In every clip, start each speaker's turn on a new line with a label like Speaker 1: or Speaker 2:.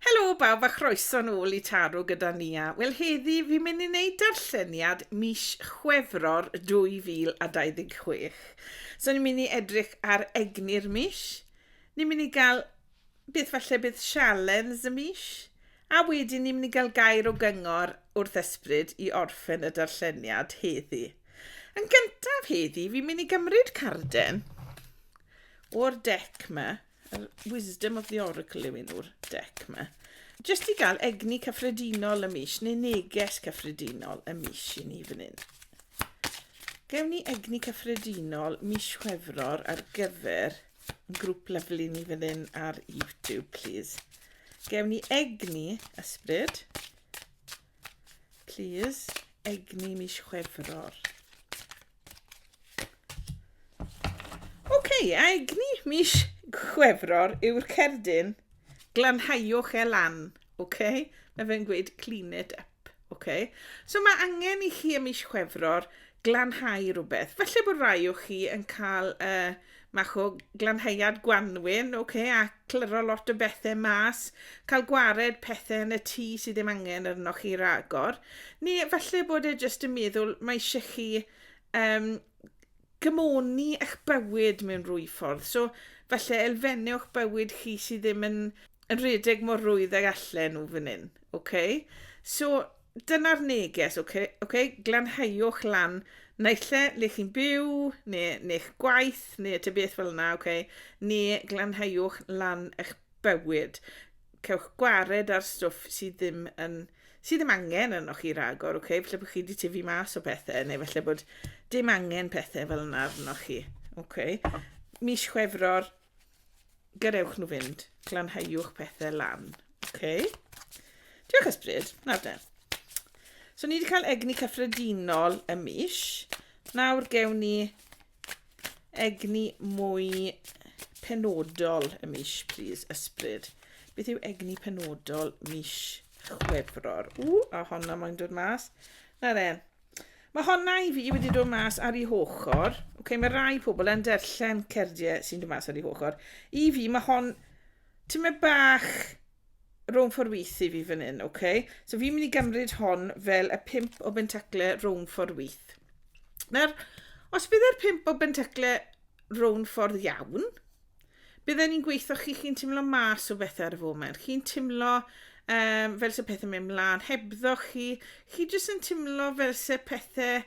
Speaker 1: Helo bawb a chroeso nôl i Taro gyda Nia. Wel heddi fi'n mynd i wneud darlleniad mis Chwefror 2026. So ni'n mynd i edrych ar egni'r mis, ni'n mynd i gael beth falle bydd sialens y mis, a wedyn ni'n mynd i gael gair o gyngor wrth ysbryd i orffen y darlleniad heddi. Yn gyntaf heddi fi'n mynd i gymryd carden o'r dec ma. Yr wisdom of the oracle yw un o'r dec yma. Jyst i gael egni cyffredinol y mis, neu neges cyffredinol y mis i ni fan hyn. Gewn ni egni cyffredinol mis Chwefror ar gyfer yn grŵp lyflu ni fan hyn ar YouTube, please. Gewn ni egni ysbryd. Plîs, egni mis Chwefror. Hei, a egni mis Chwefror yw'r cerdyn, glanhaiwch e lan, oce? Okay? Mae fe'n gweud clean it up, oce? Okay? So mae angen i chi y mis Chwefror glanhau rhywbeth. Felly bod rai o chi yn cael uh, Mach o glanheuad gwanwyn, ok, a clyro lot o bethe mas, cael gwared pethe yn y tŷ sydd ddim angen arnoch chi ragor, neu falle bod e jyst yn meddwl mae eisiau chi um, gymoni eich bywyd mewn rwy ffordd. So, falle elfennau o'ch bywyd chi sydd ddim yn, yn rhedeg mor rwydd ag allan nhw fan hyn. Okay? So, Dyna'r neges, ok? ok? Glanhauwch lan naill lle le chi'n byw, neu neu'ch gwaith, neu ta beth fel yna, ok? Neu glanhauwch lan eich bywyd. Cewch gwared ar stwff sydd ddim yn sydd ddim angen arnoch chi ragor, ok? Felly bod chi wedi tyfu mas o pethau, neu felly bod dim angen pethau fel yna arnoch chi, ok? Mis Chwefror, gadewch nhw fynd. Glanhauwch pethau lan. Oce? Diolch ysbryd. Nawr de. So ni wedi cael egni cyffredinol y mis. Nawr gewn ni egni mwy penodol y mis, plîs, ysbryd. Beth yw egni penodol mis Chwefror? Ww, a honna mae'n dod mas. Na de, Mae honna i fi wedi dod mas ar ei hochr. Okay, mae rai pobl yn derllen cerdiau sy'n dod mas ar ei hochr. I fi, mae hon... Ti'n mynd bach rhwng ffordd wyth i fi fan hyn, oce? Okay? So fi'n mynd i gymryd hon fel y pimp o bentacle rhwng ffordd wyth. Nawr, os bydd e'r pimp o bentacle rhwng ffordd iawn, bydden ni'n gweithio chi chi'n timlo mas o bethau ar y foment. Chi'n timlo um, fel se pethau mewn mlaen hebddo chi. Chi jyst yn timlo fel se pethau...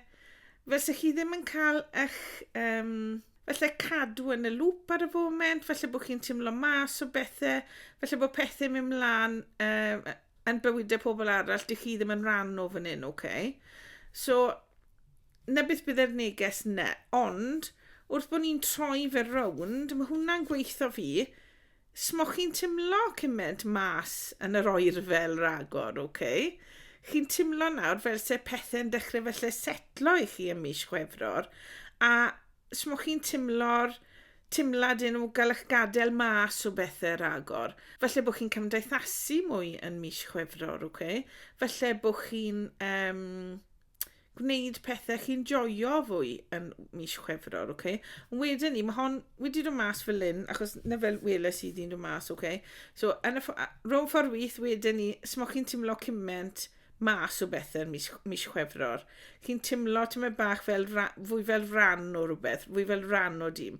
Speaker 1: Fel se chi ddim yn cael eich... Um, felly cadw yn y lŵp ar y foment, felly bod chi'n timlo mas o bethau, felly bod pethau mewn mlaen um, yn bywydau pobl arall, dych chi ddim yn rhan o fan hyn, oce? Okay? So, 'na beth bydde'r neges 'na, ond wrth bod ni'n troi fe rownd, mae hwnna'n gweithio fi, smoch chi'n timlo cymaint mas yn yr oerfel ragor, oce? Okay? Chi'n timlo nawr fel se pethau'n dechrau felly setlo i chi ym mis Chwefror, a smoch chi'n timlo'r timlad yn o gael eich gadael mas o bethau ragor. Felly bod chi'n cymdeithasu mwy yn mis Chwefror, oce? Okay? Felly bod chi'n... Um, gwneud pethau chi'n joio fwy yn mis Chwefror, oce? Okay? Ond wedyn ni, mae hon wedi dod mas fel lyn, achos na fel weles i ddyn dod mas, oce? Okay? So, yn y rhwng ffordd wyth wedyn ni, smo chi'n timlo cyment mas o bethau yn mis, mis Chwefror. Chi'n timlo tymed bach fel ra, fwy fel ran o rhywbeth, fwy fel ran o dîm,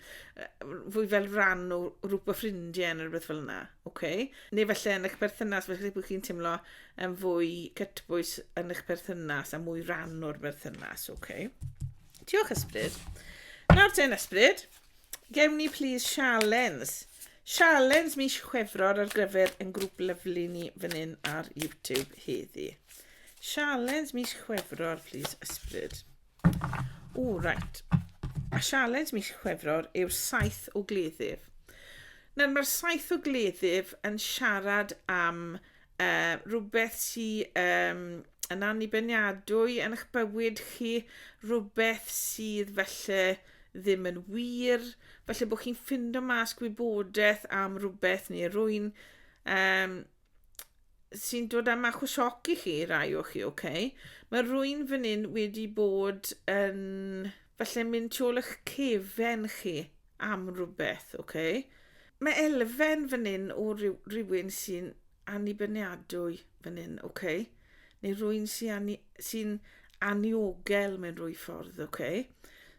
Speaker 1: fwy fel ran o rhywbeth ffrindiau neu rhywbeth fel yna. Oce. Neu falle yn eich perthynas, falle bod chi'n teimlo yn fwy cytbwys yn eich perthynas a mwy rhan o'r berthynas. Oce. Diolch, Ysbryd. Nawr ten, Ysbryd, gewn ni plis sialens. Sialens mis Chwefror ar gyfer yn grŵp lyflu ni fan hyn ar YouTube heddi. Sialens mis Chwefror, plis, Ysbryd. O, reit. A sialens mis Chwefror yw'r saith o gleddyf. Nawr, mae'r saith o gleddyf yn siarad am uh, rhywbeth sy'n um, yn annibyniadwy yn eich bywyd chi, rhywbeth sydd felly ddim yn wir, felly bod chi'n ffindo mas gwybodaeth am rhywbeth neu rwy'n um, sy'n dod am achos sioc i chi, rai o chi, oce? Okay? Mae rwy'n fan hyn wedi bod yn, falle mynd tu ôl eich cefen chi am rhywbeth, oce? Okay? Mae elfen fan hyn o rhywun sy'n annibyniadwy fan hyn, oce? Okay? neu rwy'n sy'n sy anniogel mewn rwy ffordd, oce? Okay?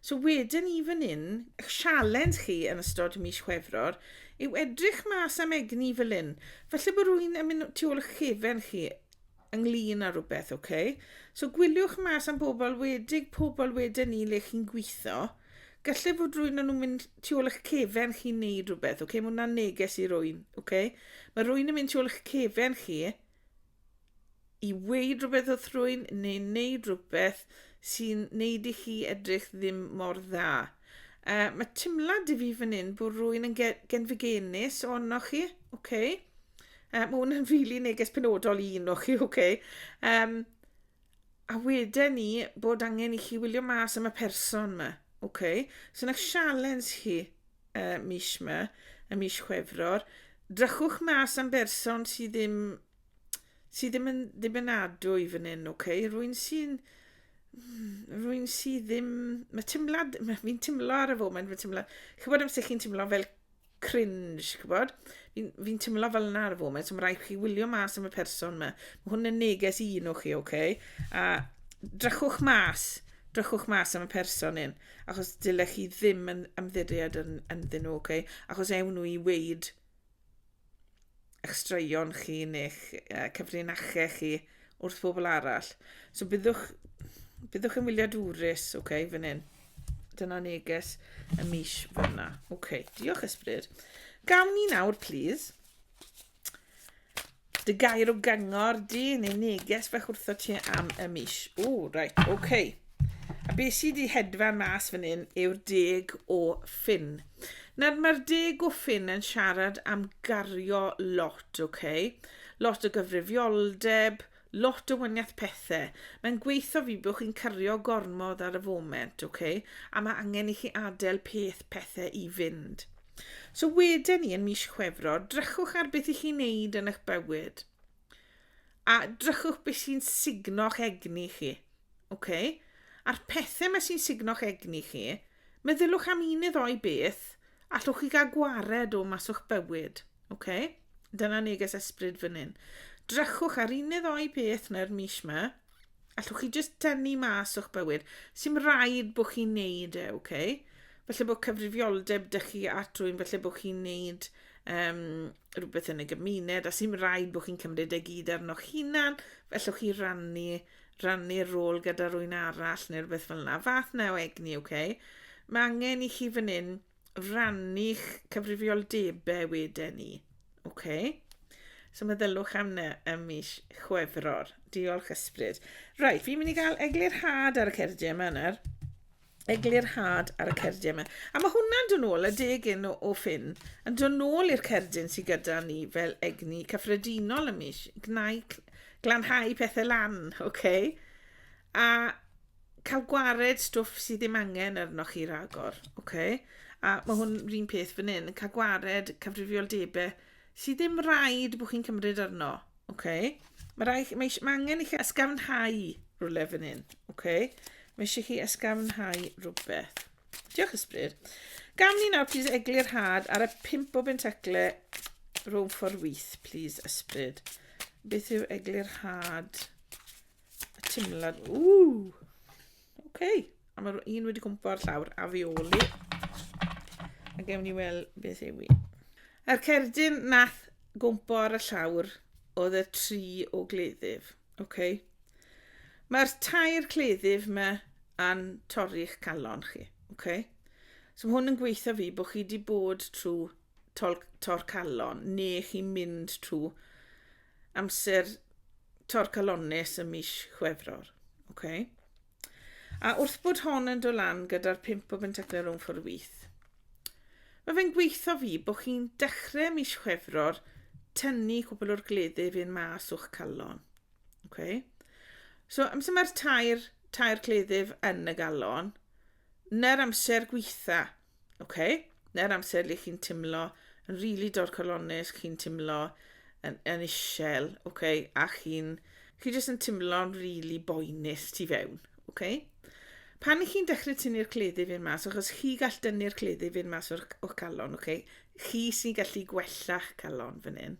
Speaker 1: So wedyn i fan hyn, eich sialens chi yn ystod mis Chwefror yw edrych mas am egni fel hyn. Felly bod rwy'n yn mynd tu ôl eich chefen chi ynglyn â rhywbeth, oce? Okay? So gwyliwch mas am bobl wedig pobl wedyn ni le chi'n gweithio. Gallai fod rwy'n nhw'n mynd tu ôl eich cefen chi'n neud rhywbeth, oce? Okay? Mae hwnna'n neges i rwy'n, oce? Okay? Mae rwy'n yn mynd tu ôl eich cefen chi i weud rhywbeth wrth rwy'n neu wneud rhywbeth sy'n neud i chi edrych ddim mor dda. Uh, mae timlad i fi fan hyn bod rwy'n yn genfigenus o'n o'ch chi. Okay. Uh, mae hwn yn rili really neges penodol i un o'ch chi, okay. Um, A wedyn ni bod angen i chi wylio mas am y person yma. Okay. So na sialens chi uh, mis yma, y mis Chwefror. Drychwch mas am berson sydd ddim sydd ddim yn ddibynadwy i fan hyn, okay? Rwy'n sy'n... Rwy'n sydd ddim... Mae teimlad... Mae fi'n teimlo ar y foment, mae teimlad... Chybod amser chi'n teimlo fel cringe, chi'n gwybod? Fi'n fi teimlo fel yna ar y foment, so mae rhaid chi wylio mas am y person yma. Mae hwn yn neges i un o chi, oce? Okay? A drychwch mas, drychwch mas am y person un, achos dylech chi ddim yn ymddiried yn, ynddyn nhw, oce? Okay? Achos ewn nhw i weid eich straeon chi neu'ch uh, cyfrinachau chi wrth bobl arall. So byddwch, byddwch yn wyliadwrus, oce, okay, fan hyn. Dyna neges y mis fyna. Oce, okay, diolch ysbryd. Gawn ni nawr, please, dy gair o gyngor di neu neges fach wrtho ti am y mis. O, reit, oce. Okay. A beth sydd wedi hedfan mas fan hyn yw'r deg o ffin. Nawr mae'r de gwffin yn siarad am gario lot, ok? Lot o gyfrifioldeb, lot o wyniath pethau. Mae'n gweithio fi bod chi'n cario gormod ar y foment, ok? A mae angen i chi adael peth pethau i fynd. So wedyn ni yn mis Chwefror, drychwch ar beth i chi'n neud yn eich bywyd. A drychwch beth sy'n sugno'ch egni chi. Okay? A'r pethau mae sy'n sugno'ch egni chi, meddyliwch am un neu ddoi beth allwch chi gael gwared o mas o'ch bywyd. Okay? Dyna neges ysbryd fan hyn. Drychwch ar un neu ddoi beth neu'r mis yma, Allwch chi jyst tynnu mas o'ch bywyd. Sy'n rhaid bod chi'n neud e, ok? Felly bod cyfrifioldeb dych chi at rwy'n felly bod chi'n neud um, rhywbeth yn y gymuned a sy'n rhaid bod chi'n cymryd e gyd arnoch hunan, fellwch chi rannu, rannu'r rôl gyda rwy'n arall neu rhywbeth fel yna. Fath na o egni, ok? Mae angen i chi fan hyn rannu'ch cyfrifoldebau wedyn ni. OK. So meddylwch am na ym mis Chwefror. Diolch ysbryd. Right, fi'n mynd i gael eglurhad ar y cerdiau yma nawr. Eglurhad ar y cerdiau yma. A mae hwnna'n dod nôl, y deg un o, o ffyn, yn dod nôl i'r cerdyn sydd gyda ni fel egni cyffredinol ym mis. Gnau, glanhau pethau lan, OK? A cael gwared stwff sydd ddim angen arnoch chi ragor, oce? Okay? A mae hwn rhywun peth fan hyn, cael gwared cyfrifioldebau sydd ddim rhaid bod chi'n cymryd arno, oce? Okay? Mae, rai, mae, mae angen i chi ysgafnhau rhywle fan hyn, oce? Okay? Mae eisiau chi ysgafnhau rhywbeth. Diolch ysbryd. Gam ni nawr, plîs, egli'r had ar y pimp o bentacle rhwng ffordd wyth, plîs, ysbryd. Beth yw egli'r had? y timlad. Ww! Oce. Okay. A mae'r un wedi cwmpo ar llawr a fi oli. A gewn ni weld beth yw i. A'r cerdyn nath gwmpo ar y llawr oedd y tri o gleddyf. Oce. Okay. Mae'r tair cleddyf yma yn torri'ch calon chi. Oce. Okay. So mae hwn yn gweithio fi bod chi wedi bod trwy tor calon neu chi'n mynd trwy amser torcalonnus ym mis Chwefror. Okay. A wrth bod hon yn dod lan gyda'r pimp o bentaclau rhwng ffordd wyth, mae fe'n gweithio fi bod chi'n dechrau mis Chwefror tynnu cwbl o'r gleddi fi'n mas o'ch calon. Okay. So, amser mae'r tair, tair cleddif yn y galon, na'r amser gweitha Ok, neu'r amser lle chi'n timlo yn rili really dorcalonnus, chi'n timlo yn, yn isel, ok, a chi'n chi jyst yn timlo'n rili really boenus tu fewn, ok? Pan i chi'n dechrau tynnu'r cleddyf i'r mas, achos chi gall dynnu'r cleddyf i'r mas o'r, or calon, ok? Chi sy'n gallu gwella'ch calon fan hyn.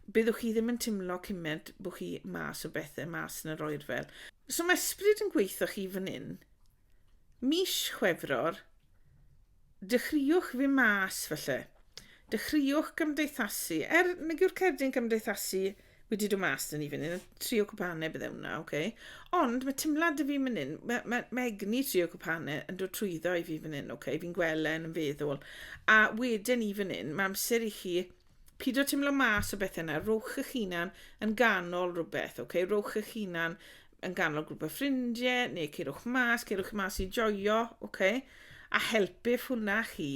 Speaker 1: Byddwch chi ddim yn timlo cymaint bod chi mas o bethau, mas yn yr oerfel. So mae ysbryd yn gweithio chi fan hyn, Mis Chwefror, dechreuwch fy mas falle. Dechreuwch gymdeithasu. Er nag yw'r cerdyn cymdeithasu wedi dod mas dyn ni fan hyn, trio cwpane bydde hwnna, oce? Okay? Ond mae timlad y fi fan hyn, mae, mae, mae egni trio cwpane yn dod trwyddo i fi fan hyn, oce? Okay? Fi'n gwelen yn feddwl. A wedyn i fan hyn, mae amser i chi pyd o timlo mas o bethau yna, rowch eich hunan yn ganol rhywbeth, oce? Okay? Rowch eich hunan yn ganol grwp o ffrindiau, neu ceirwch mas, ceirwch mas i joio, oce? Okay? A helpif hwnna chi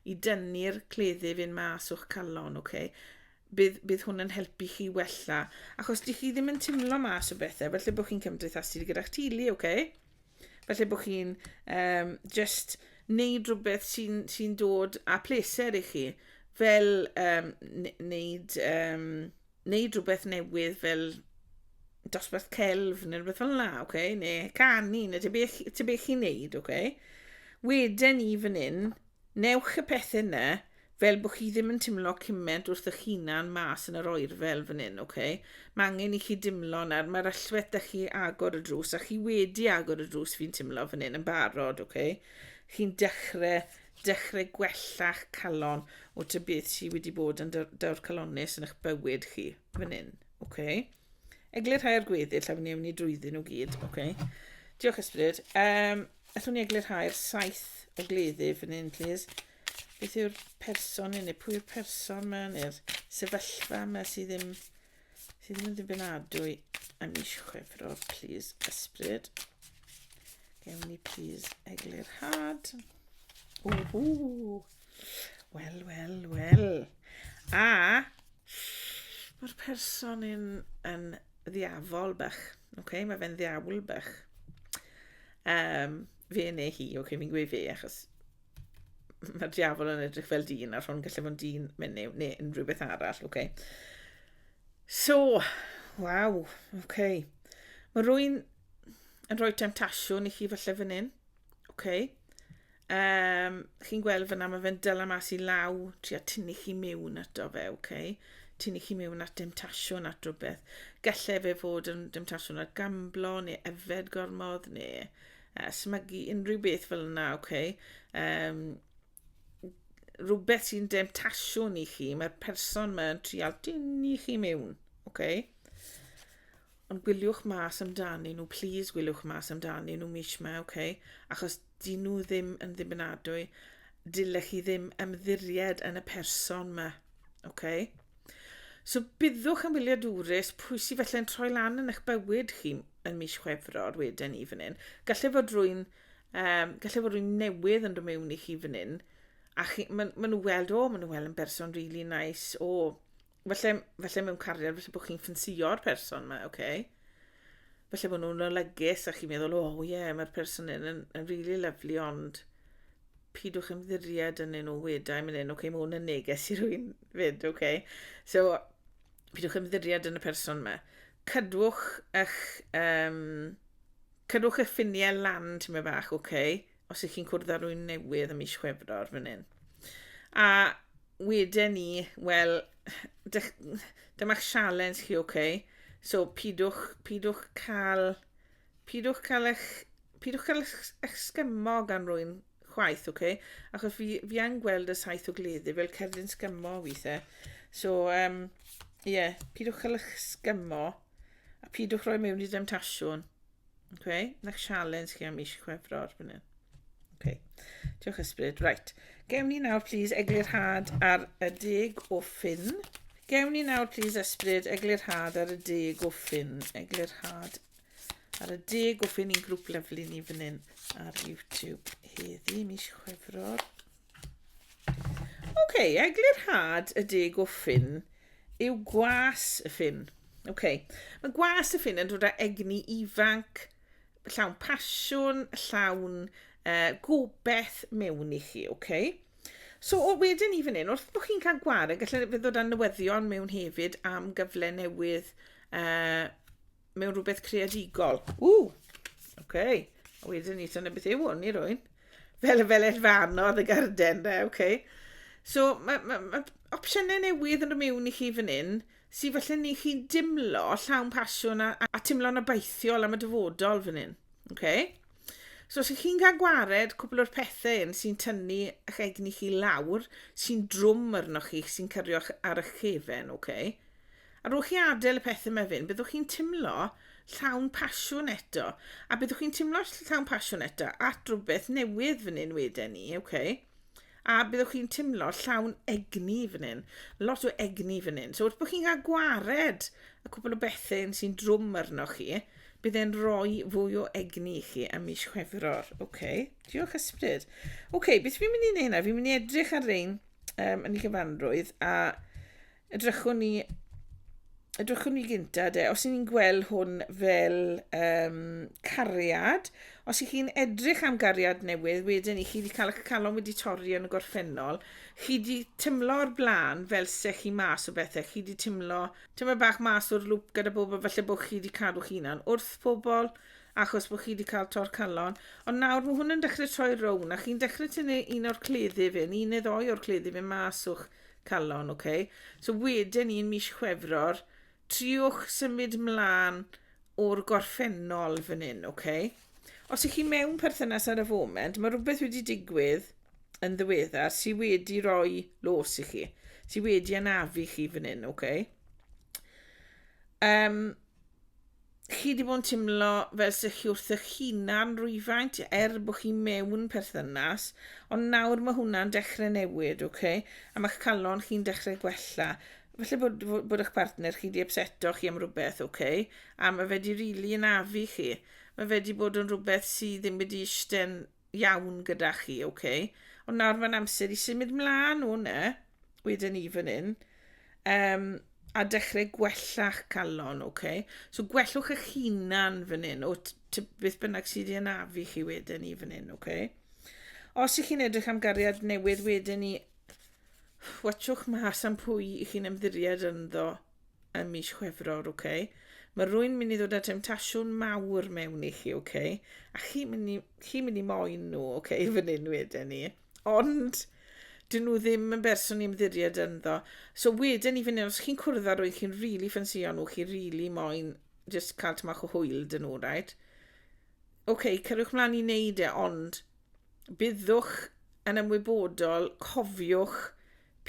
Speaker 1: i dynnu'r cleddyf yn mas o'ch calon, oce? Okay? Bydd, bydd hwn yn helpu chi wella. Achos di chi ddim yn timlo mas o bethau, felly bod chi'n cymdeithasu gyda'ch tili, oce? Okay? Felly bod chi'n um, just wneud rhywbeth sy'n sy dod â pleser i chi, fel um, wneud um, wneud rhywbeth newydd fel dosbarth celf neu rhywbeth fel yna, okay? neu canu, neu te beth, te beth chi'n neud, okay? Wedyn ni fan hyn, newch y pethau yna, fel bod chi ddim yn timlo cymaint wrth ych hunan mas yn yr oer fel fan hyn, okay? Mae angen i chi dimlo nawr, mae'r allwedd da chi agor y drws, a chi wedi agor y drws fi'n timlo fan hyn yn barod, okay? Chi'n dechrau dechrau gwella'ch calon o ty beth sydd wedi bod yn daw'r calonus yn eich bywyd chi, fan hyn, oce? Okay? Eglur rhai ar gweddill a fy ni drwyddyn nhw gyd, oce? Okay? Diolch ysbryd. Um, allwn ni eglur rhai'r saith o gleddu fan hyn, please. Beth yw'r person yn ei? Pwy yw'r person yma neu'r sefyllfa yma sydd ddim sydd yn ddibynadwy a mis chwefror, please ysbryd. Gewn ni please eglurhad. Ww, wel, wel, wel. A mae'r person yn, yn ddiafol bach. Okay? Mae fe'n ddiawl bach. Um, fe neu hi, okay, fi'n gweud fe achos Mae'r diafol yn edrych fel dyn, a'r hwn gallu fod dyn menyw, neu unrhyw beth arall, oce. Okay. So, waw, oce. Okay. Mae rwy'n yn rhoi temtasiwn i chi falle fan hyn, oce. Okay. Um, chi'n gweld fyna, mae fe'n dyla mas i law, tri a tynnu chi mewn ato fe, oce. Okay. Tynnu chi mewn at demtasiwn at rhywbeth. Gallai fe fod yn demtasiwn ar gamblo, neu efed gormod, neu uh, smygu unrhyw beth fel yna, oce. Okay? Um, rhywbeth sy'n demtasiwn i chi, mae'r person mae'n trial dyn i chi mewn, oce. Okay? Ond gwyliwch mas amdani nhw, please gwyliwch mas amdani nhw mis yma, oce. Okay? Achos dyn nhw ddim yn ddibynadwy, dylech chi ddim ymddiried yn y person yma, Okay. So byddwch yn wyliadwrus pwy sydd felly'n troi lan yn eich bywyd chi yn mis Chwefror wedyn ni fan hyn. Gallai fod rwy'n um, gallai fod rwy'n newydd yn dod mewn i chi fan hyn a chi, maen ma nhw weld, o, maen nhw weld yn berson really nice, o, felly, felly mewn cariad, felly bod chi'n ffansio'r person yma, oce? Okay? falle bod nhw'n olygus a chi'n meddwl, o oh, ie, yeah, mae'r person yn, yn, yn really lovely, ond pidwch ymddiried yn nhw wedau, mynd yn, oce, okay, mae hwn yn neges i rwy'n fyd, oce. Okay. So, pidwch ymddiried yn y person yma. Cydwch eich, um, cydwch eich ffiniau lan, ti'n meddwl bach, oce. Okay. os ych chi'n cwrdd â rwy'n newydd ym mis Chwefror fan hyn. A wedyn ni, wel, dyma'ch sialens chi, oce? Okay? So, pidwch, pidwch cael, pidwch cael eich, pidwch cael eich, eich sgymo gan rwy'n chwaith, oce? Okay? Achos fi, fi yn gweld y saith o gleddi fel cerdyn sgymo weithiau. So, um, ie, yeah, pidwch cael eich sgymo a pidwch roi mewn i demtasiwn. Okay, next challenge chi am mis Chwefror fan hyn. Okay. Diolch ysbryd. Right. Gewn ni nawr, please, eglurhad ar y deg o ffyn. Gewn ni nawr, please, ysbryd, eglurhad ar y deg o ffyn. Eglurhad ar y deg o ffyn i'n grŵp lyflu ni fan hyn ar YouTube heddi, mis Chwefror. OK, eglurhad y deg o ffyn yw gwas y ffyn. OK, mae gwas y ffyn yn dod â egni ifanc, llawn pasiwn, llawn uh, gobeith mewn i chi, OK? So o wedyn ni fan hyn, wrth bod chi'n cael gwared, gallai fe ddod â newyddion mewn hefyd am gyfle newydd uh, mewn rhywbeth creadigol. Ww! Oce. Okay. A wedyn ni dyna beth yw hwn i rwy'n. Fel y fel elfanodd y garden de, oce. Okay. So mae ma, ma opsiynau newydd yn y mewn i chi fan hyn sy'n falle ni chi'n dimlo llawn pasiwn a, a, a timlo'n abaithiol am y dyfodol fan hyn. Okay? So os ych chi'n cael gwared cwbl o'r pethau yn sy'n tynnu eich egni chi lawr, sy'n drwm arnoch chi, sy'n cyrio'ch ar eich cefen, oce? Okay? Ar ôl chi adael y pethau yma fynd, byddwch chi'n timlo llawn pasiwn eto. A byddwch chi'n timlo llawn pasiwn eto at rhywbeth newydd fan hyn wedyn ni, oce? Okay? A byddwch chi'n timlo llawn egni fan hyn. Lot o egni fan hyn. So wrth bod chi'n cael gwared y cwbl o bethau sy'n drwm arnoch chi, bydd e'n rhoi fwy o egni i chi am mis chwefror. Oce, okay. diolch ysbryd. Oce, okay, beth fi'n mynd i wneud yna? Fi'n mynd i edrych ar rein um, yn ei gyfanrwydd a Edrychwn ni... Edrychwn ni gynta de, os ni'n gweld hwn fel um, cariad, os i chi'n edrych am gariad newydd, wedyn i chi wedi cael eich calon wedi torri yn y gorffennol, chi wedi tymlo o'r blaen fel se chi mas o bethau, chi wedi tymlo tyma bach mas o'r lŵp gyda bobl, falle bod chi wedi cadw chi hunan wrth pobl, achos bod chi wedi cael tor calon. Ond nawr mae hwn yn dechrau troi rown, a chi'n dechrau tynnu un o'r cleddi fe, un neu ddoi o'r cleddi fe mas o'ch calon, ok. So wedyn un mis Chwefror, triwch symud mlaen o'r gorffennol fan hyn, ok. Os ych chi mewn perthynas ar y foment, mae rhywbeth wedi digwydd yn ddiweddar sydd wedi rhoi los i chi, sydd wedi anafu chi fan hyn, ok. Um, chi di bod yn teimlo fel sy'ch chi wrth eich hunan rwyfaint er bod chi mewn perthynas, ond nawr mae hwnna'n dechrau newid, ok? A mae'ch calon chi'n dechrau gwella. Felly bod, bod eich partner chi di upseto chi am rhywbeth, ok? A mae fe di rili really anafu chi. Mae fe di bod yn rhywbeth sydd ddim wedi eistedd iawn gyda chi, ok? Ond nawr mae'n amser i symud mlaen o hwnna. wedyn ni fan hyn. Um, a dechrau gwella'ch calon, oce? Okay? So gwellwch eich hunan fan hyn, o beth bynnag sydd wedi anafu chi wedyn ni fan hyn, oce? Okay? Os ych chi'n edrych am gariad newydd wedyn ni, watchwch mas am pwy i chi'n ymddiried ynddo ym mis Chwefror, oce? Okay? Mae rwy'n mynd i ddod â temtasiwn mawr mewn i chi, oce? Okay? A chi'n mynd, chi mynd i moyn nhw, oce, okay, fan hyn wedyn ni. Ond, dyn nhw ddim yn berson i ymddiried ynddo. So wedyn i fyny, os chi'n cwrdd â rwy'n chi'n rili really ffansio nhw, chi'n rili really moyn just cael tymach o hwyl dyn nhw, right? Oce, okay, cyrwch mlaen i wneud e, ond byddwch yn ymwybodol, cofiwch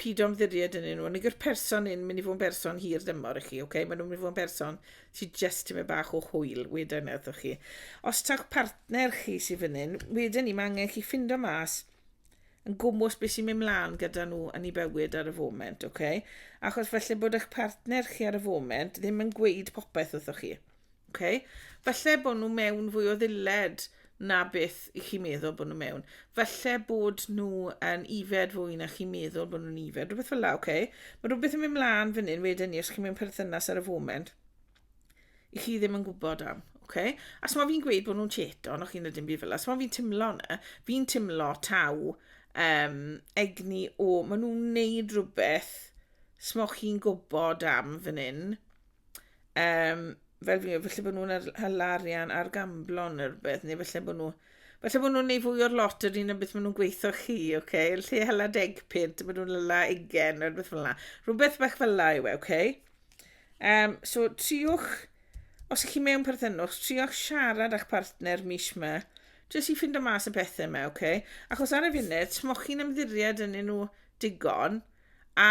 Speaker 1: Pido ymddiried yn nhw. Nid yw'r person yn mynd i fod yn berson hir dymor i chi, okay? Maen nhw'n mynd i fod yn berson sydd jyst tymau bach o hwyl, wedyn ni wrthoch chi. Os tawch partner chi sy'n fan hyn, wedyn ni, mae angen chi ffindo mas yn gwmwys beth sy'n mynd mlaen gyda nhw yn ei bywyd ar y foment, okay? Achos felly bod eich partner chi ar y foment ddim yn gweud popeth wrthoch chi. Okay? Falle bod nhw mewn fwy o ddilled na beth i chi meddwl bod nhw mewn. Falle bod nhw yn ifed fwy na chi'n meddwl bod nhw'n ifed. Rhywbeth fel la, oce? Okay? Mae rhywbeth yn mynd mlaen fan hyn wedyn ni, os chi'n mewn perthynas ar y foment, i chi ddim yn gwybod am. Okay? A so fi'n gweud bod nhw'n cheto, ond o'ch chi'n ydyn byd fel la. So fi'n timlo na, fi'n timlo taw um, egni o, maen nhw'n neud rhywbeth smoch chi'n gwybod am fan hyn, Um, fel fi, felly bod nhw'n hel arian ar gamblon neu rhywbeth, neu felly bod nhw... Felly bod nhw'n neud fwy o'r lot yr un o beth maen nhw'n gweithio chi, oce? Okay? Lle hela deg pint, maen nhw'n hela ugen, neu rhywbeth fel yna. Rhywbeth bach fel yna yw e, oce? Okay? Um, so, triwch, os ych chi mewn perthynwch, triwch siarad â'ch partner mis yma, jyst i ffind o mas y pethau yma, oce? Okay? Achos ar y funud, smoch chi'n ymddiried yn nhw digon, A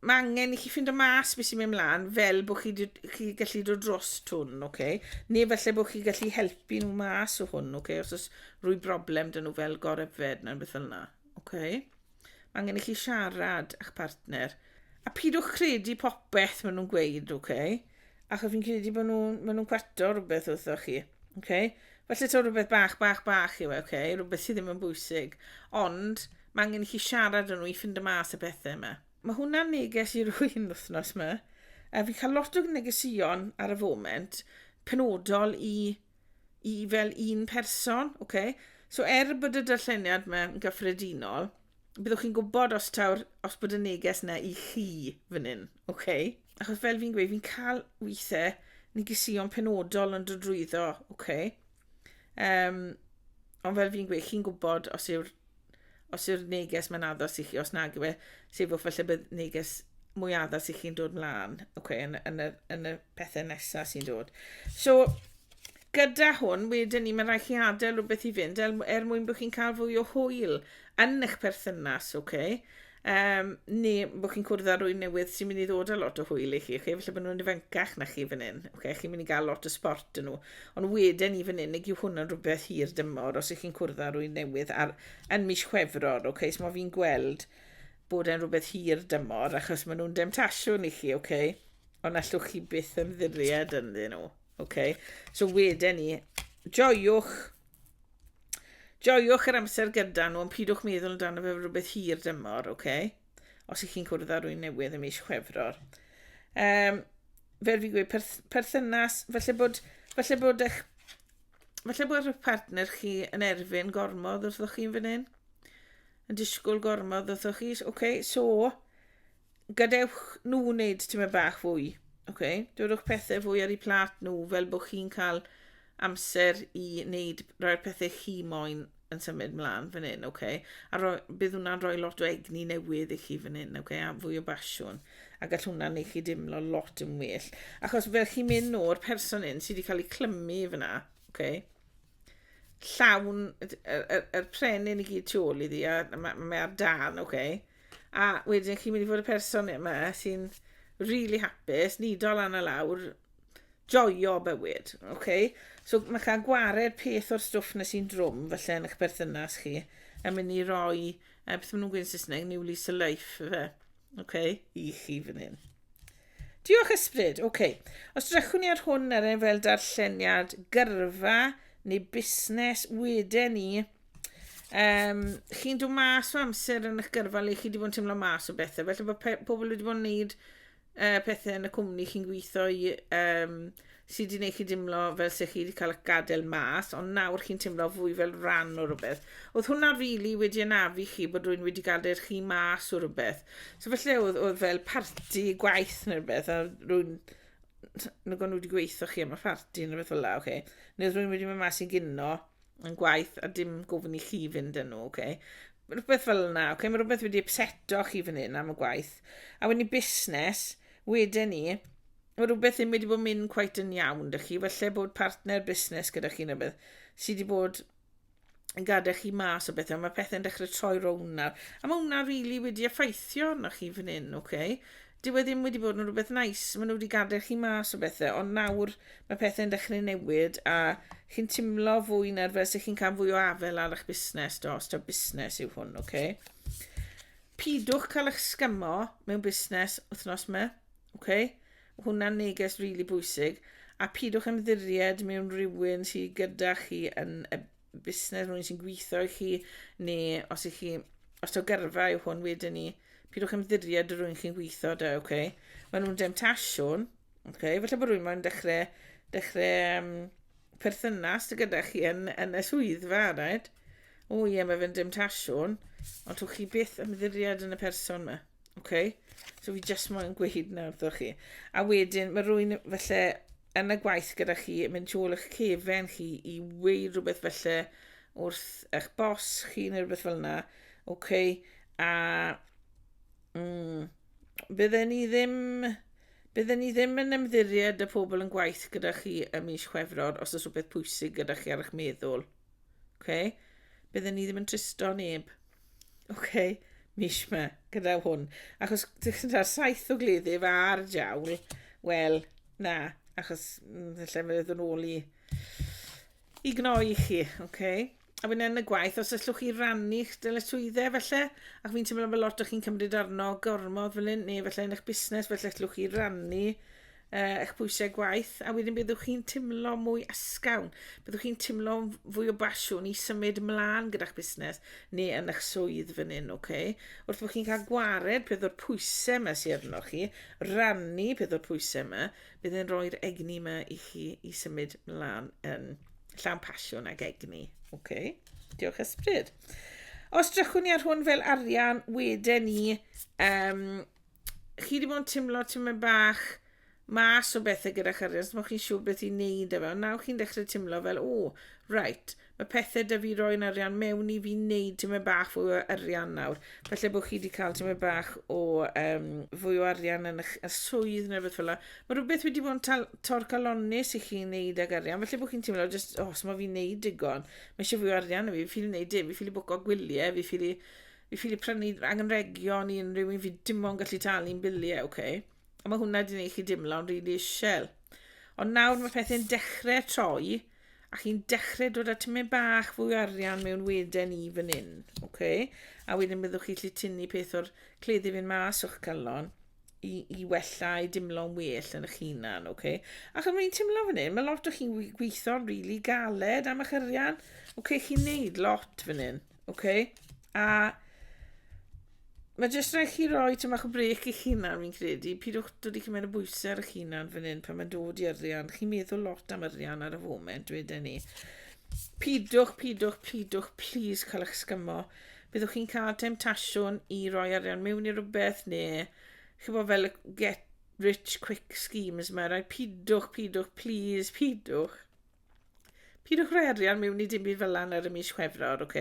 Speaker 1: mae angen i chi ffindo mas beth sy'n mynd mlaen fel bod chi, chi gallu dod dros hwn, oce? Okay? Neu felly bod chi gallu helpu nhw mas o hwn, oce? Okay? Os oes rwy broblem dyn nhw fel goryfed neu'n beth fel yna, oce? Okay? Mae angen i chi siarad â'ch partner. A pidwch credu popeth maen nhw'n gweud, oce? Okay? Achos fi'n credu bod nhw'n ma nhw cwato rhywbeth wrthoch chi. Okay? Felly to rhywbeth bach, bach, bach yw e, okay? rhywbeth sydd ddim yn bwysig. Ond mae angen i chi siarad yn nhw i ffind y mas y pethau yma. Mae hwnna'n neges i rwy'n wythnos yma. A fi'n cael lot o negesion ar y foment penodol i i fel un person, oce? Okay? So er bod y darlleniad yma yn gyffredinol, byddwch chi'n gwybod os taw'r, os bod y neges yna i chi fan hyn, oce? Okay? Achos fel fi'n gweud, fi'n cael weithiau negesion penodol yn dod drwyddo, oce? Okay? Um, ond fel fi'n gweud, chi'n gwybod os yw'r os yw'r neges mae'n addas i chi, os nag yw e, sefwch falle bydd neges mwy addas i chi'n dod mlaen okay, yn, yn, y, yn y pethau nesaf sy'n dod. So, gyda hwn, wedyn ni, mae'n rhaid chi adael rhywbeth i fynd er, er mwyn bod chi'n cael fwy o hwyl yn eich perthynas, okay? Yym, neu bod chi'n cwrdd â rwy'n newydd sy'n mynd i ddod â lot o hwyl i chi, chi, felly bod nhw'n ifancach na chi fan hyn, okay? chi'n mynd i gael lot o sport yn nhw. Ond wedyn i fan hyn, neu yw hwnna'n rhywbeth hir dymor os ych chi'n cwrdd â rwy'n newydd ar, yn mis Chwefror, okay? so mae fi'n gweld bod e'n rhywbeth hir dymor, achos maen nhw'n demtasiwn i chi, okay? ond allwch chi byth ymddiried ynddyn nhw. Okay? So wedyn ni, joiwch Joiwch yr amser gyda nhw, ond pidwch meddwl amdano fe fel rhywbeth hir dymor, oce? Okay? Os ych chi'n cwrdd â rwy'n newydd ym mis Chwefror. Um, fel fi gweud, perth perthynas, felly bod, felly bod eich Felly bod eich partner chi yn erfyn gormod wrthoch chi'n fan hyn? Yn disgwyl gormod wrthoch chi? Oce, okay, so, gadewch nhw wneud tymed bach fwy. Oce? Dodwch pethau fwy ar eu plat nhw fel bod chi'n cael amser i wneud rhai'r pethau chi moyn yn symud mlaen fan hyn, oce? A roi, bydd hwnna'n rhoi lot o egni newydd i chi fan hyn, oce? A fwy o basiwn. A gall hwnna'n neu chi dimlo lot yn well. Achos fel chi'n mynd o'r person hyn sydd wedi cael ei clymu fyna, oce? Llawn, yr, yr, yr prenyn i gyd tu ôl iddi, a mae ma ar dan, oce? Okay? A wedyn chi'n mynd i fod y person yma sy'n really hapus, nido lan a lawr, joio bywyd, oce? Okay? So mae cael gwared peth o'r stwff na sy'n drwm falle yn eich berthynas chi, a mynd i roi, e, beth maen nhw'n gwneud Saesneg, new lease a life, fe, oce, okay? i chi fan hyn. Diolch ysbryd, oce. Okay. Os drechwn ni ar hwn ar ein fel darlleniad gyrfa neu busnes, wedyn ni, um, chi'n dod mas o amser yn eich gyrfa le chi wedi bod yn teimlo mas o bethau. Felly bod pobl wedi bod yn gwneud uh, pethau yn y cwmni chi'n gweithio i, um, sydd wedi gwneud chi dimlo fel se chi wedi cael eich gadael mas, ond nawr chi'n teimlo fwy fel rhan o rhywbeth. Oedd hwnna rili really wedi ynafu chi bod rwy'n wedi gadael chi mas o rhywbeth. So felly oedd, oedd fel parti gwaith neu rhywbeth, a rwy'n nag o'n nhw wedi gweithio chi am y parti neu beth fel la, oce. Okay. Neu rwy'n wedi mynd mas i gino, yn gwaith a dim gofyn i chi fynd yn nhw, okay? Rhywbeth fel yna, okay? Mae rhywbeth wedi upseto chi fan hyn am y gwaith. A wedyn i busnes, wedyn ni, mae rhywbeth ddim wedi bod mynd cweit yn iawn dych chi. Felly bod partner busnes gyda chi neu beth sydd wedi bod yn gadael chi mas o bethau. Mae pethau'n dechrau troi rownd nawr. A mae hwnna rili really wedi effeithio arnoch chi fan hyn, okay? Dyw e ddim wedi bod yn rhywbeth nais, maen nhw wedi gadael chi mas o bethau, ond nawr mae pethau'n dechrau newid a chi'n timlo fwy na'r fel sy'n chi'n cael fwy o afel ar eich busnes dos, ta busnes yw hwn, oce? Okay? Pidwch cael eich sgymo mewn busnes wythnos me, oce? Okay? Hwna'n neges rili really bwysig, a pidwch ymddiried mewn rhywun sydd gyda chi yn y busnes, rhywun sy'n gweithio i chi, neu os ych chi, os taw gyrfa yw hwn wedyn ni, pidwch ymddiried y rhywun chi'n gweithio da, oce? Okay? Mae nhw'n demtasiwn, oce? Okay? Felly bod rhywun mae'n dechrau, dechrau um, perthynas gyda chi yn, yn y swyddfa, right? O ie, mae fe'n demtasiwn, ond twch chi byth ymddiried yn y person yma. Okay? So fi just moyn gweud nawr ddo chi. A wedyn, mae rwy'n felly yn y gwaith gyda chi, yn mynd tu ôl eich cefen chi i weud rhywbeth felly wrth eich bos chi neu rhywbeth fel yna, ok, a mm, bydden ni ddim, bydden ni ddim yn ymddiried y pobl yn gwaith gyda chi y mis chwefror os oes rhywbeth pwysig gyda chi ar eich meddwl. Ok? Bydden ni ddim yn tristo neb. Oce, okay, mis ma gyda hwn. Achos gyda'r saith o gleddyf a'r jawl, wel, na, achos mm, lle mae ddod yn ôl i, i gnoi i chi, oce? Okay? A wedyn yn y gwaith, os allwch chi rannu'ch dyletswyddau felly, ac fi'n teimlo fel lot o chi'n cymryd arno gormod fel hyn, neu felly yn eich busnes, felly allwch chi rannu uh, eich pwysau gwaith, a wedyn byddwch chi'n timlo mwy ysgawn, byddwch chi'n timlo fwy o basiwn i symud mlaen gyda'ch busnes neu yn eich swydd fan hyn, okay? Wrth bod chi'n cael gwared peth o'r pwysau yma sy'n arno chi, rannu peth o'r pwysau yma, bydd e'n rhoi'r egni yma i chi i symud mlaen yn llawn pasiwn ag egni, okay? Diolch ysbryd. Os drychwn ni ar hwn fel arian, wedyn ni um, chi wedi bod yn timlo timlo'n bach mas o bethau gyda chariad, os mae chi'n siŵr beth i'n neud efo. Nawr chi'n dechrau timlo fel, o, right, mae pethau da fi roi'n arian mewn i fi'n neud ti'n mynd bach fwy o arian nawr. Felly bod chi wedi cael ti'n mynd bach o um, fwy o arian yn y, y swydd neu beth fel yna. Mae rhywbeth wedi bod yn torcalonus i chi'n neud ag arian. Felly bod chi'n teimlo, just, oh, os mae fi'n neud digon, mae eisiau fwy o arian i fi, fi'n neud dim, fi'n ffili bwco gwyliau, fi'n ffili fi ffili prynu angenrhegion i unrhyw un, fi dim ond gallu talu'n biliau, oce? Okay? A mae hwnna wedi gwneud chi dimlo'n rili really isel. Ond nawr mae pethau'n dechrau troi, a chi'n dechrau dod at mynd bach fwy arian mewn weden i fan hyn, oce? Okay? A wedyn byddwch chi gallu tynnu peth o'r cleddi fynd mas o'ch calon i, i wella i dimlo'n well yn eich hunan, oce? Okay? Ac am fi'n timlo fan hyn, mae lot o chi'n gweithio'n rili really galed am eich arian, oce? Okay, chi'n neud lot fan hyn. Ok, a mae jyst rhaid chi roi tyma o brec i hunan, fi'n credu. Pidwch dod i cymryd y bwysau ar eich hunan fan hyn pan mae'n dod i arian. Chi'n meddwl lot am arian ar y foment, dweda ni. Pidwch, pidwch, pidwch, please cael eich sgymo. Byddwch chi'n cael temtasiwn i roi arian mewn i rhywbeth neu chi'n bod fel get rich quick schemes mae rhaid pidwch, pidwch, please, pidwch. Pidwch rhoi arian mewn i dim byd fel yna ar y mis Chwefror, ok?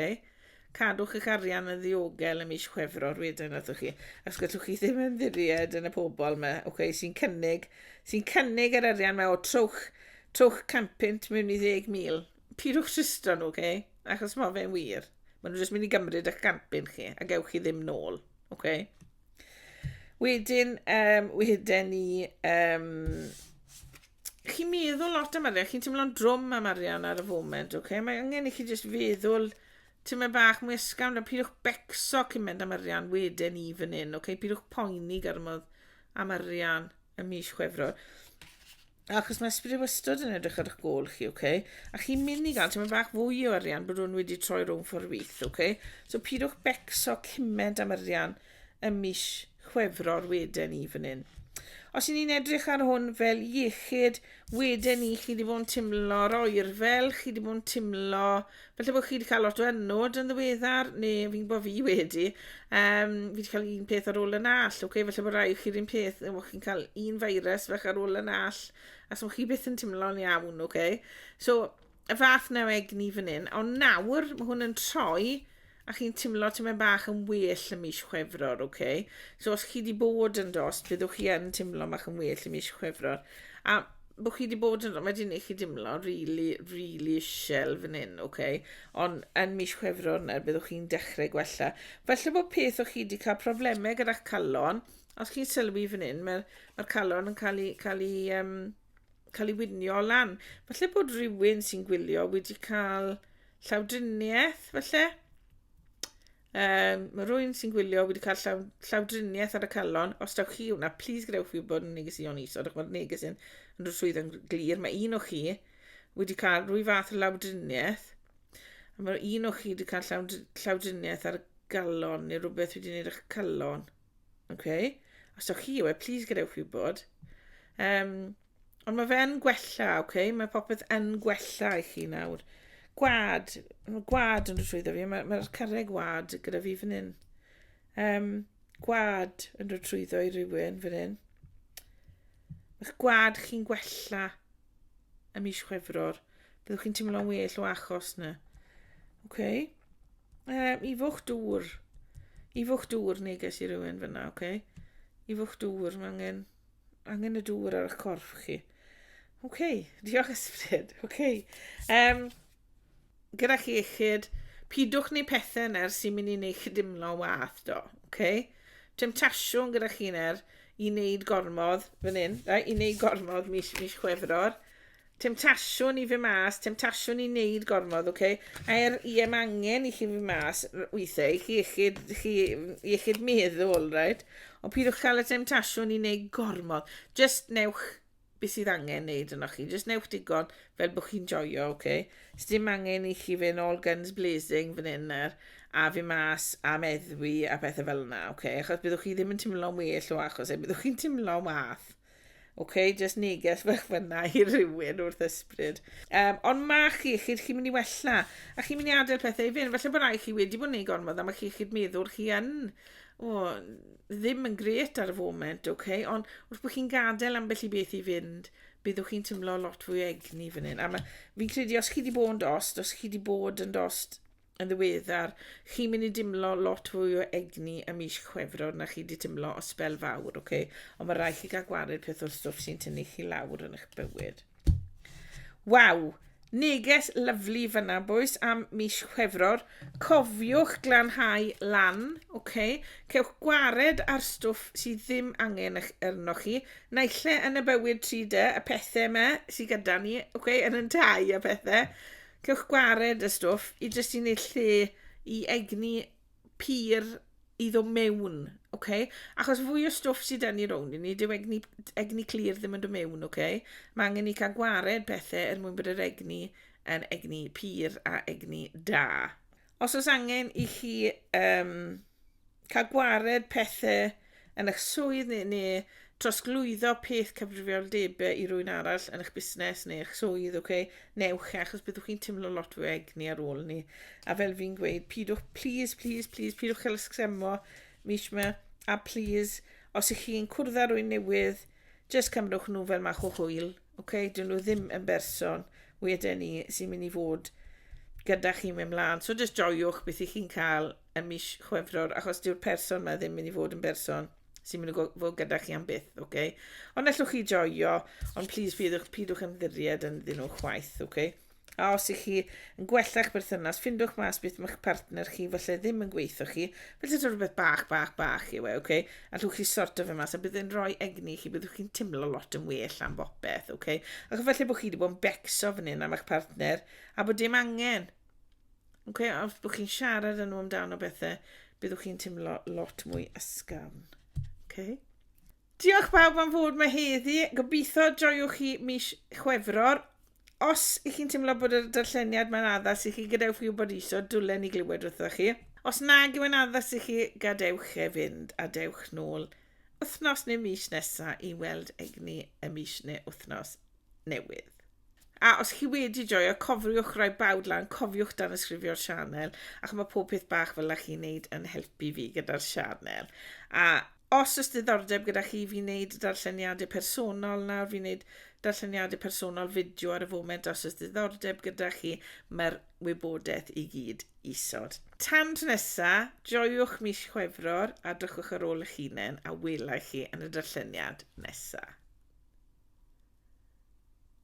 Speaker 1: Cadwch eich arian yn ddiogel y mis Chwefror wedyn wrthych chi, os gallwch chi ddim ymddiried yn y pobl yma, ok, sy'n cynnig, sy'n cynnig yr arian yma o trwch, trwch campynt mewn i 10,000. Pidwch tristro nhw, ok? Achos mae fe'n wir. Maen nhw jyst mynd i gymryd eich campyn chi, a gewch chi ddim nôl, ok? Wedyn, um, wedyn ni, um, chi'n meddwl lot am arian, chi'n teimlo'n drwm am arian ar y foment, oce? Okay? Mae angen i chi jyst feddwl ti'n mynd bach mwy ysgafn, a pidwch becso cyn mynd am arian wedyn i fan hyn, oce? Okay? Pidwch poeni garmodd am arian y mis chwefror. Achos mae ysbryd wastad yn edrych ar eich gol chi, oce? Okay? A chi'n mynd i gael ti'n mynd bach fwy o arian bod nhw'n wedi troi rhwng ffordd wyth, oce? Okay? So pidwch becso cyment am arian y mis chwefror Chwefror wedyn ni fan hyn. Os ni'n edrych ar hwn fel iechyd, wedyn ni chi wedi bod yn timlo'r oer fel chi wedi bod yn timlo, felly bod chi wedi cael lot o ennod yn ddiweddar, neu fi'n bod fi wedi, um, fi wedi cael un peth ar ôl yn all, okay? felly bod rhaid chi'r un peth, neu bod chi'n cael un feirws fach ar ôl yn all, a so chi byth yn timlo'n iawn, okay? so y fath na egni fan hyn, ond nawr mae hwn yn troi a chi'n timlo ti'n mynd bach yn well y mis chwefror, oce? Okay? So os chi wedi bod yn dost, byddwch chi yn timlo bach yn well y mis chwefror. A bod chi wedi bod yn rhywbeth, mae wedi gwneud chi dimlo really, really isel fan hyn, oce? Okay? Ond yn mis chwefror yna, byddwch chi'n dechrau gwella. Felly bod peth o'ch chi wedi cael problemau gyda'ch calon, os chi'n sylwi fan hyn, mae'r mae calon yn cael ei, cael ei um, cael ei winio lan. Falle bod rhywun sy'n gwylio wedi cael llawdriniaeth, falle. Um, mae rhywun sy'n gwylio wedi cael llaw, llawdriniaeth ar y calon. Os dawch chi hwnna, plis gadewch fi bod yn neges i o'n iso. Dych mae'r neges yn rhoi swydd yn glir. Mae un o chi wedi cael rwy fath o lawdriniaeth. A mae un o chi wedi cael llawdriniaeth ar y galon neu rhywbeth wedi gwneud eich calon. Ok. Os ywch chi yw e, please gadewch fi wybod. Um, ond mae fe yn gwella, ok? Mae popeth yn gwella i chi nawr. Gwad, mae gwad yn rhywbeth fi. Mae'r mae carreg wad gyda fi fan hyn. Um, gwad yn rhywbeth trwyddo i rywun fan hyn. Mae'ch gwad chi'n gwella. ym mis Chwefror, byddwch chi'n teimlo'n well o achos na. Oce? Okay? Um, I fwch dŵr. I fwch dŵr neges i rywun fyna, oce? Okay? I fwch dŵr, mae angen, angen y dŵr ar eich corff chi. Oce, okay, diolch ysbryd. Oce. Okay. Um, gyda'ch iechyd, pidwch ni pethau na'r sy'n mynd i wneud chi dimlo'n wath do, okay? Temtasiwn gyda chi na'r i wneud gormodd, fan hyn, da, i wneud gormodd mis, mis chwefror. Temtasiwn i fy mas, temtasiwn i wneud gormodd, okay? A'r i am angen i chi fy mas weithiau, i chi iechyd, chi iechyd meddwl, right? Ond pidwch cael y temtasiwn i wneud gormodd. Just newch beth sydd angen neud yno chi. Just newch digon fel bod chi'n joio, oce? Okay? Sdim angen i chi fynd all guns blazing fan hyn nawr a fi mas a meddwi a pethau fel yna, oce? Okay? Achos byddwch chi ddim yn teimlo'n well o achos e, byddwch chi'n teimlo'n wath. Oce, okay? just neges fach fyna i rywun wrth ysbryd. Um, ond mae chi, chi'n chi mynd i wella, a chi'n mynd i adael pethau i fynd. Felly bod rai chi wedi bod yn ei gormod, a mae chi, chi'n meddwl chi yn, o, ddim yn grêt ar y foment, ok, ond wrth bod chi'n gadael ambell i beth i fynd, byddwch chi'n teimlo lot fwy egni fan hyn. A ma, fi'n credu os chi wedi bod yn dost, os chi wedi bod yn dost yn ddiweddar, chi'n mynd i dimlo lot fwy o egni y mis chwefror na chi wedi timlo o spel fawr, ok? Ond mae rhaid chi gael gwared peth o'r stwff sy'n tynnu chi lawr yn eich bywyd. Waw! Neges lyfli fyna bois am mis Chwefror. Cofiwch glanhau lan, oce? Cewch gwared ar stwff sydd ddim angen ych arnoch chi, naille yn y bywyd tri dy, y pethe yma sydd gyda ni, oce? Yn yn tai a pethe. Cewch gwared y stwff i jyst i neud lle i egni pur i ddod mewn, oce? Okay? Achos fwy o stwff sydd dyn ni rownd i ni, dyw egni, egni clir ddim yn dod mewn, oce? Okay? Mae angen ni cael gwared pethau er mwyn bod yr egni yn egni pur a egni da. Os oes angen i chi um, cael gwared pethau yn eich swydd neu, neu trosglwyddo peth cyfrifoldebau i rwy'n arall yn eich busnes neu eich swydd, oce, okay? newch e, achos byddwch chi'n teimlo lot fwy egni ar ôl ni. A fel fi'n gweud, pidwch, please, please, please, pidwch cael ysgremo mis yma, a please, os ych chi'n cwrdd â rwy'n newydd, just cymrwch nhw fel mach o hwyl, oce, okay? dyn nhw ddim yn berson, wedyn ni sy'n mynd i fod gyda chi mewn mlaen. So just joiwch beth ych chi'n cael ym mis Chwefror, achos dyw'r person mae ddim mynd i fod yn berson sy'n mynd i fod gyda chi am byth, oce? Okay? Ond allwch chi joio, ond plis pidwch, pidwch ymddiried yn ddyn nhw chwaith, oce? Okay? A os ych chi yn gwella'ch berthynas, ffindwch mas beth mae'ch partner chi felly ddim yn gweithio chi, felly dod rhywbeth bach, bach, bach yw e, oce? Okay? Allwch chi sorto fe mas, a bydd yn rhoi egni chi, byddwch chi'n teimlo lot yn well am bopeth, oce? Okay? Ac felly bod chi wedi bod yn becso fan hyn am eich partner, a bod dim angen, Okay, a os bod chi'n siarad yn nhw amdano bethau, byddwch chi'n teimlo lot mwy ysgafn. Okay. Diolch bawb am fod mae heddi. Gobeithio joiwch chi mis Chwefror. Os ych chi'n teimlo bod y darlleniad mae'n addas i chi, gadewch fi wybod iso, dwlen i glywed wrthoch chi. Os nag yw'n addas i chi, gadewch e fynd a dewch nôl wythnos neu mis nesaf i weld egni y mis neu wythnos newydd. A os chi wedi joio, cofiwch roi bawd lan, cofiwch dan ysgrifio'r sianel, ac mae pob peth bach fel ych chi'n neud yn helpu fi gyda'r sianel. A os oes diddordeb gyda chi fi wneud darlleniadau personol nawr, fi wneud darlleniadau personol fideo ar y foment, os oes diddordeb gyda chi, mae'r wybodaeth i gyd Isod. Tan tro nesa, joiwch mis Chwefror a drychwch ar ôl eich hunain a welai chi yn y darlleniad nesa.